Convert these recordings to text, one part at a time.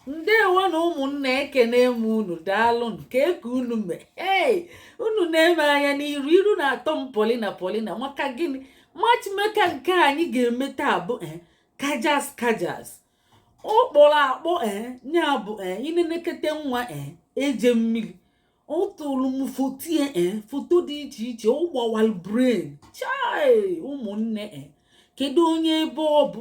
ndewo nụ ụmụnne ekene m unu daalụ nụ kee ka unu mee ee unu nee m anya n'iru iru na-atọ m polina polina maka gịnị matchmaker nke anyị ga-eme taa bụ eh, kajas kajas ọ kpọrọ akpọ eh, ya bụ eh, i nenekete nwa eje mmiri ọ tụrụ m foto ya foto dị iche iche ọ gbawara brain chai ụmụnne kedu onye ebe ọ bụ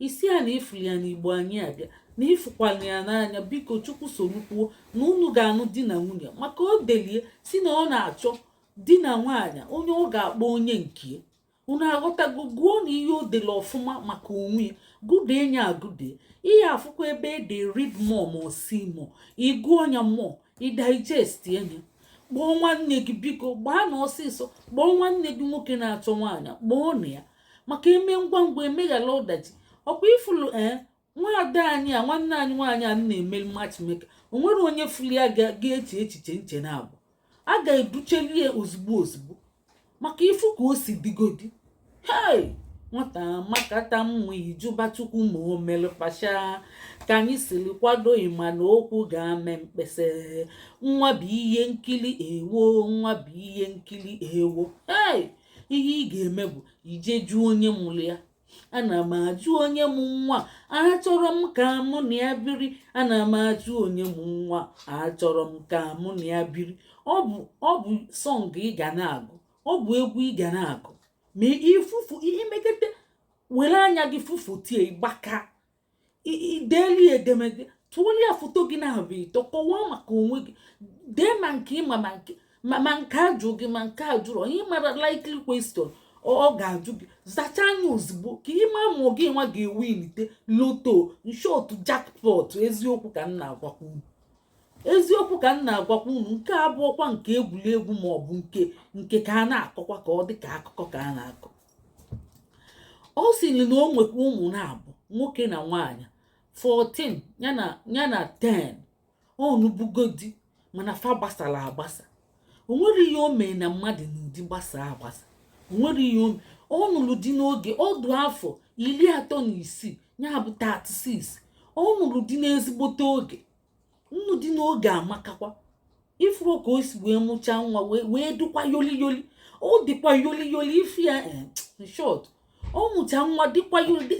ị si ya na ifuli ya na igbo anyị abịa na ịfụkwala ya n'anya biko chukwu sorukwuo na unu ga-anụ di na nwunye maka o delie si na ọ na-achọ di na nwaanyị onye ọ ga-akpọ onye nke unu aghọtago gụọ nụ ihe o dele ọfụma maka onwe ya gụde nya agụde ị ya-afụkwa ebe e de read more ma see more ị gụọ nya more ị digestie nya kpọọ nwanne gị biko gbaa nụ ọsịsọ kpọọ nwanne gị nwoke na-achọ nwaanyị kpọọ nya maka e mee ngwa ngwa emeghara ọdachi ọkwa ifulu ee eh, nwaada anyị a nwanne anyị nwaanyị a na-eme matchmaker o nwere onye fuli ya ga-eche echiche nche naabụ a ga-educheli ya ozugbo ozugbo maka ifu ka o si digodi hei nwata makata mma ị jụba chukwu ma o mere partial ka anyị siri kwado ịma na okwu ga-ame mkpesa nwa bụ ihe nkiri ewo nwa bụ ihe nkiri ewo hei ihe ị ga-eme bụ ije jụọ onye mụrụ ya ana m ajụ onye mụ nwa achọrọ m ka mụ na ya biri ana m ajụ onye mụ nwa achọrọ m ka mụ na ya biri ọ bụ ọ bụ song ị ga na-agụ ọ bụ egwu ị ga na-agụ ma ị fụ fo i mekete were anya gị fụ foto ya gbaka i deeli edemede tụọli ya foto gị naabụ ịtọ kọwaa maka onwe gị dee ma nke ịma ma nke ma nke ajụ gị ma nke ajụrụ onye mara likely question ọ ga-ajụ gị zachaa nya ozugbo ka ị ma ma ọ gị nwa ga-ewinite lotto in short jackpot eziokwu ka m na-agwakwa unu eziokwu ka m na-agwakwa unu nke a abụọkwa nke egwuregwu ma ọ bụ nke nke ka a na-akọkwa ka ọ dị ka akụkọ ka a na-akọ ọ sịrị na o nwekwa ụmụ naabụ nwoke na nwaanyị 14 ya na ya na 10 ọ nụbugo di mana fa gbasara agbasa o nwere ihe o mee na mmadụ nụ di gbasa agbasa o nwere ihe o mee ọ nụrụ di n'oge ọ dụ afọ iri atọ na isii ya bụ 36 ọ nụrụ di n'ezigbote oge nnụ di n'oge amakakwa ifuru ka o si wee mụchaa nwa wee dịkwa yoli yoli ọ dịkwa yoli yoli ife ya eh, in short ọ mụcha nwa dịkwa yoli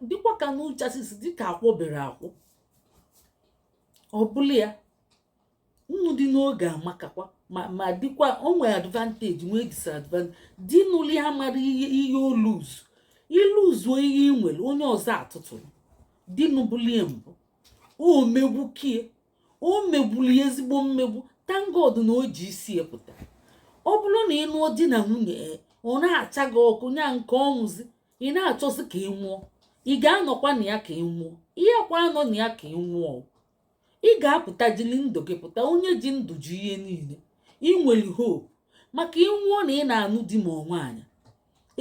dịkwa ka n'ụcha sisi dịka akwọbere akwụ ọ bụla ya nnụ di n'oge amakakwa ma dịkwa o nwere advantage nwee disadvantage di nụlụ ya amarọ ihe ihe o luzu i luzuo ihe ị nwere onye ọzọ atụtụrụ di nụbuli ya mbụ o megbu kie o megburu ya ezigbo mmegbu thank God na o ji isi epụta ọ bụrụ na ị nụọ di na nwunye ọ na-acha gị ọkụ nya nke ọnwụzi ị na-achọzi ka ị nwụọ ị ga-anọkwa na ya ka ị nwụọ ị yakwa anọ na ya ka ị nwụọ ị ga-apụta jili ndụ gị pụta onye ji ndụ ji ihe niile ị nwere hope maka ị nwụọ na ị na-anụ di ma ọ nwaanyị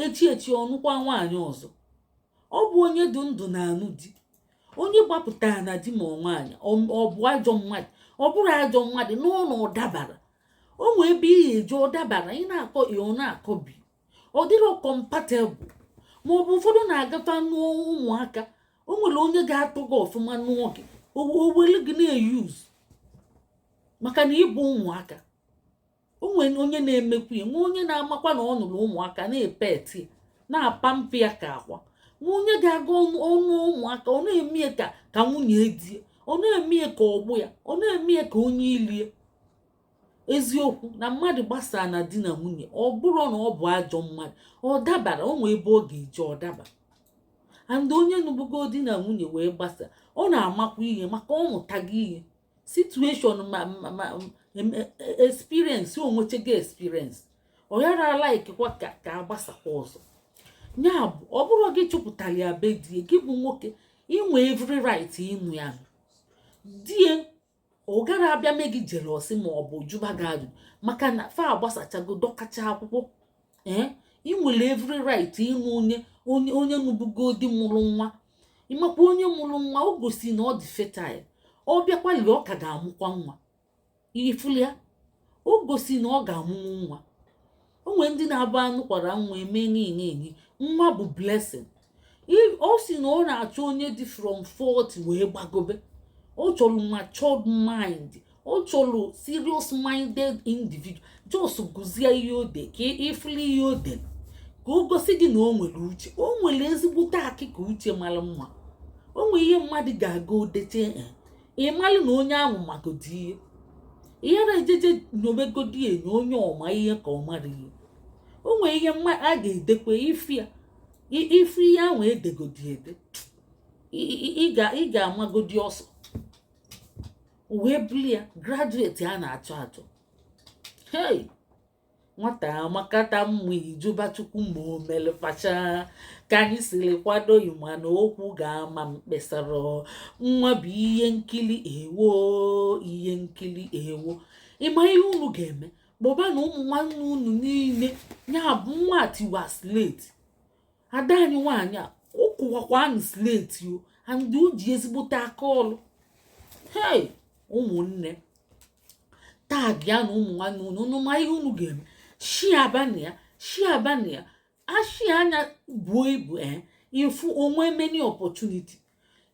echi echi ọ nụkwa nwaanyị ọzọ ọ bụ onye dị ndụ na-anụ di onye gbapụtara na di ma ọ nwaanyị ọ bụ ajọ mmadụ ọ bụrụ ajọ mmadụ n'ụlọ ọ dabara o nwee ebe ị ya-eji ọ dabara ị na-akọ A ọ na-akọ B ọ dịrọ compatible ma ọ bụ ụfọdụ na-agata nụọ ụmụaka o nwere onye ga-atọ gị ọfụma nụọ gị o wele gị na-euse maka na ị bụ ụmụaka o nwere onye na-emekwu ya nwe onye na-amakwa na ọ nụrụ ụmụaka na-epet na-apamper ya ka akwa nwe onye ga-aga ọ nụọ ụmụaka ọ na-eme ya ka ka nwunye di e ọ na-eme ya ka ọgbọ ya ọ na-eme ya ka onye ilo e eziokwu na mmadụ gbasaa na di na nwunye ọ bụrụ na ọ bụ ajọ mmadụ ọ dabara o nwee ebe ọ ga-eji ọ daba and onye nụbugo di na nwunye wee gbasa ọ na-amakwa ihe maka ọ mụtago ihe situation ma ma ma experience o nwechego experience ọ yara alikekwa ka a gbasakwa ọzọ ya bụ ọ bụrụ gị chụpụtara ya be di e gị bụ nwoke i nwe every right ịnụ ya di e ọ gara abịa mee gị jealousy ma ọ bụ jụba gị ajụ maka na fa agbasachago dọkacha akwụkwọ ee ị nwere every right ịnụ onye onye onye nụbugo di mụrụ nwa ị makwa onye mụrụ nwa o gosi na ọ dị fertile ọ bịakwa lere ọ ka ga-amụkwa nwa ị fụlụ ya o gosi na ọ ga-amụnwu nwa o nwere ndị na-abụ a nụkwara nwa eme niile enyi nwa bụ blessing ọ sị na ọ na-achọ onye dị from 40 wee gbagobe ọ chọrọ matured mind ọ chọrọ serious minded individual just gụzie ihe o de ka ị fụla ihe o de ka o gosi gị na o nwere uche o nwere ezigbote akịka uche mara mma o nwere ihe mmadụ ga-aga o deche eh, ị malụ na onye ahụ magodi ihe ị yara ejeje nyobegodi enyo onye ọ ma ihe ka ọ mara ihe o nwere ihe a ga-edekwa ị fụ ya ị fụ ihe ahụ e degodi ede ị ga-amagodi ọsọ wee bụlụ ya graduate a na-achọ achọ hey nwata amakata mma ị jụba Chukwu ma o mere partial ka anyị siri kwado ị ma na okwu ga-ama mkpesara nwa bụ ihe nkiri ewo ihe nkiri ewo ị ma ihe unu ga-eme kpọbanụ ụmụ nwanne unu niile ya bụ nwa tiwa sleti ada anyị nwaanyị a ọ kụwakwanụ sleti o and o ji ezigbote aka ọlụ hei ụmụnne tagịanụ ụmụ nwanne unu unu ma ihe unu ga-eme shiabanụ ya shiabanụ ya a shia nya buo ibu ee eh, ị fụ o nwe many opportunity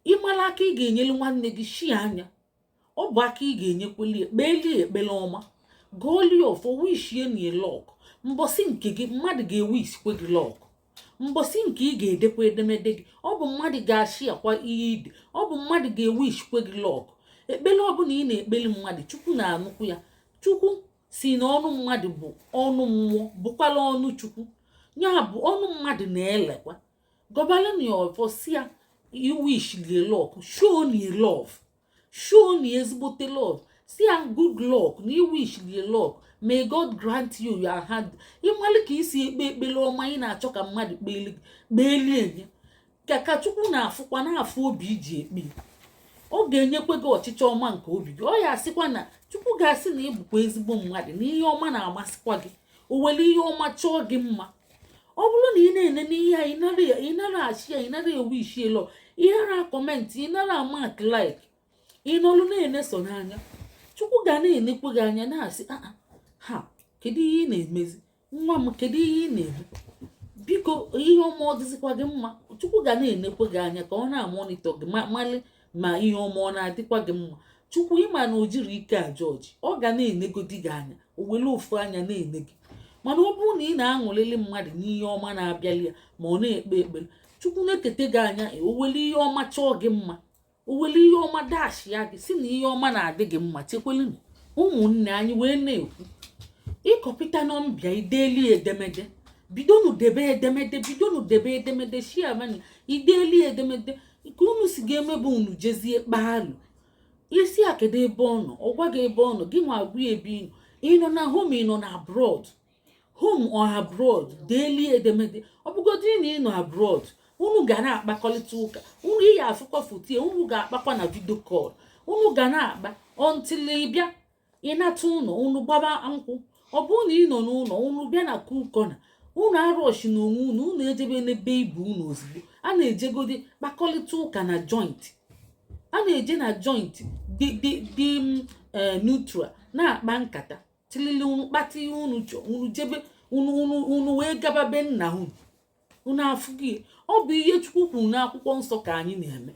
ị mara aka ị ga-enyere nwanne gị shia nya ọ bụ aka ị ga-enyekweli e kpeeli e ekpele ọma gọọli e ọfọ wishieni e lọk mbọsị nke gị mmadụ ga-ewishikwe gị lọk mbọsị nke ị ga-edekwa edemede gị ọ bụ mmadụ ga-ashiakwa ihe i de ọ bụ mmadụ ga-ewishikwe gị lọk ekpele ọbụla ị na-ekpeli mmadụ chukwu na-anụkwu ya chukwu sị na ọnụ mmadụ bụ ọnụ mmụọ bụkwala ọnụ chukwu ya bụ ọnụ mmadụ na-elekwa gọbalụ nya ọfọ sị ya i wishili e lọk show ni love show ni ezigbote love sị ya good luck na i wishili e lọk may god grant you your heart ị malụ ka i si ekpe ekpele ọma ị na-achọ ka mmadụ kpeeli enye gị ka chukwu na-afụkwa na-afụ obi i ji ekpe ọ ga-enyekwa gị ọchịchọ ọma nke obi gị ọ ya-asịkwa na chukwu ga-asị na ị bụkwa ezigbo mmadụ na ihe ọma na-amasịkwa gị o were ihe ọma chọọ gị mma ọ bụrụ na ị na-ene n'ihe a ị nara ashia ya ị nara ewishi e lọk ị nara akọmentị ị nara amak laik ị nọrụ na-ene sọ n'anya chukwu ga na-enekwe gị anya na-asị ah, ah, ha kedu ihe ị na-emezi nwa m kedu ihe ị na-eme biko ihe ọma ọ dịzikwa gị mma chukwu ga na-enekwe gị anya ka ọ na-amonitọ gị malị ma ihe ọma ọ na-adịkwa gị mma chukwu ị ma na o jiri ike ajọjị ọ ga na-enegodi gị anya o were ofu anya na-ene gị mana ọ bụrụ na ị na-aṅụlili mmadụ n'ihe ọma na-abịali ya ma ọ na-ekpe ekpere chukwu nekete gị anya e, o were ihe ọma chọọ gị mma o were ihe ọma dashia gị sị na ihe ọma na-adị gị mma chekwelu na ụmụnne anyị wee na-ekwu ị kọpịta nọmba ya i deli edemede bidonu debe edemede bidonu debe edemede shiamani i deli edemede nke unu si ga-emebe unu jezie kpaalụ i sị a kedu ebe ọ nọ ọ gwa gị ebe ọ nọ gị nwa agwa ya ebe ị nọ ị nọ na home ị nọ na abroad home or abroad deeli edemede ọ bụgodị na ị nọ abroad unu ga na-akpakọrịta ụka unu ị ya-afụkwa foto ya unu ga-akpakwa na vidio kọl unu ga na-akpa until ị bịa ị nata ụlọ unu gbaba nkwụ ọ bụrụ na ị nọ n'ụlọ unu bịa na kukọna unu arọshina onwe unu unu ejebena be ibe unu ozugbo a na-ejegodi kpakọrịta ụka na joint a na-eje na joint dị dị dị mm, eh, neutral na-akpa nkata tilili unu kpata ihe unu chọọ unu jebe unu unu unu wee gaba be nna unu unu afụghị ọ bụ ihe chukwu kwuru n'akwụkwọ nsọ ka anyị na-eme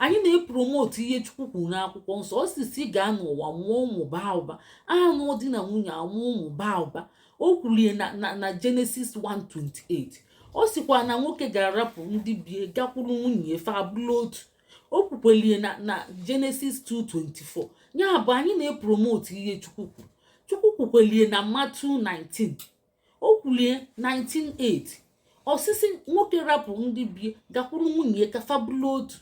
anyị na-epromote ihe chukwu kwuru n'akwụkwọ nsọ ọ sị sị gaa n'ụwa mụọ ụmụ baa ụba a nụọ di na nwunye amụọ ụmụ baa ụba o kwulie na Genesis 1:28 ọ sịkwa na nwoke ga-arapụ ndị bie gakwuru nwunye e fa abụlụ otu o kwukwelie na Genesis 2:24 ya bụ anyị na-epromote ihe chukwu kwuru chukwu kwukwelie na Matthew 19 o kwulie 19:8 ọ sị sị nwoke rapụ ndị bie gakwuru nwunye ya ka fa bụlụ otu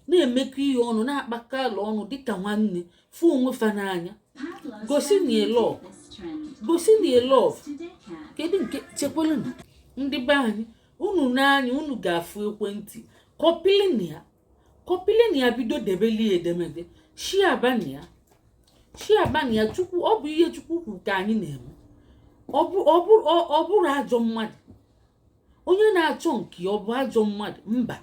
na-emekọ ihe ọnụ na-akpakọ ala ọnụ dịka nwanne fụ onwe fa n'anya gosi na love gosi na love kedu nke chekwala ndị be anyị unu n'anya unu ga-afụ ekwentị copylịnụ ya copylịnụ ya bido debelie edemede sharebanụ ya sharebanụ ya chukwu ọ bụ ihe chukwu kwuru ka anyị na-eme ọ bụrọ ajọ mmadụ onye na-achọ nke ya ọ bụ ajọ mmadụ mba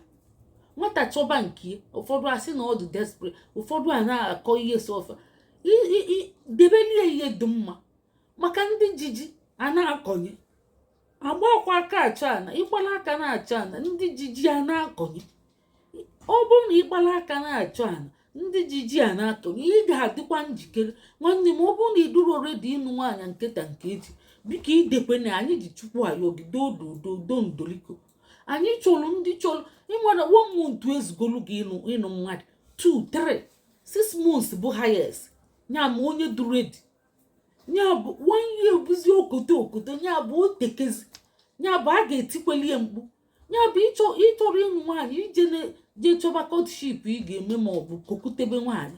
nwata chọba nke ya ụfọdụ asị na ọ dị desperate ụfọdụ a na-akọ ihe sọ fa debelie ihe dị mma maka ndị ji ji a na-akọnye agbakwa aka achọ ana ị gbalụ aka na-achọ ana ndị ji ji a na-akọnye ọ bụrụ na ị gbalụ aka na-achọ ana ndị ji ji a na-akọnye ị ga-adịkwa njikere nwanne m ọ bụrụ na ị dịrọ ready ịnụ nwaanyị nke taa nke echi biko edekwena anyị ji chukwu ayọ gị doo doo doo ndoliko anyị chọrọ ndị chọrọ ị mara one month ezugolu gị ịnụ mmadụ two three six months bụ highest ya ma onye dị ready ya bụ one year bụzi okoto okoto ya bụ o tekezi ya bụ a ga-etikweli ya mkpu ya bụ ị chọrọ ịnụ nwaanyị jee chọba courtship ị ga-eme ma ọ bụ kokutebe nwaanyị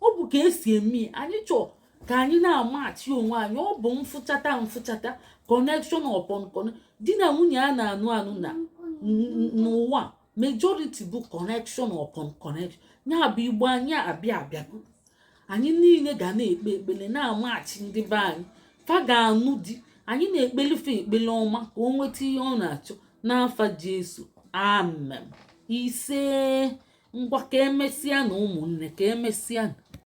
ọ bụ ka e si eme anyị chọọ ka anyị na-amachi onwe anyị ọ bụ mfụchata mfụchata connection upon connection di na nwunye a na-anụ anụ na n'ụwa majority bụ connection upon connection ya bụ igbo anyị abịa abịa anyị niile ga na-ekpe ekpele na-amachi ndị be anyị fa ga-anụ di anyị na-ekpeli fa ekpele ọma ka o nweta ihe ọ na-achọ n'afa Jesu amen ise ngwa ka emesịanụ ụmụnne ka emesịa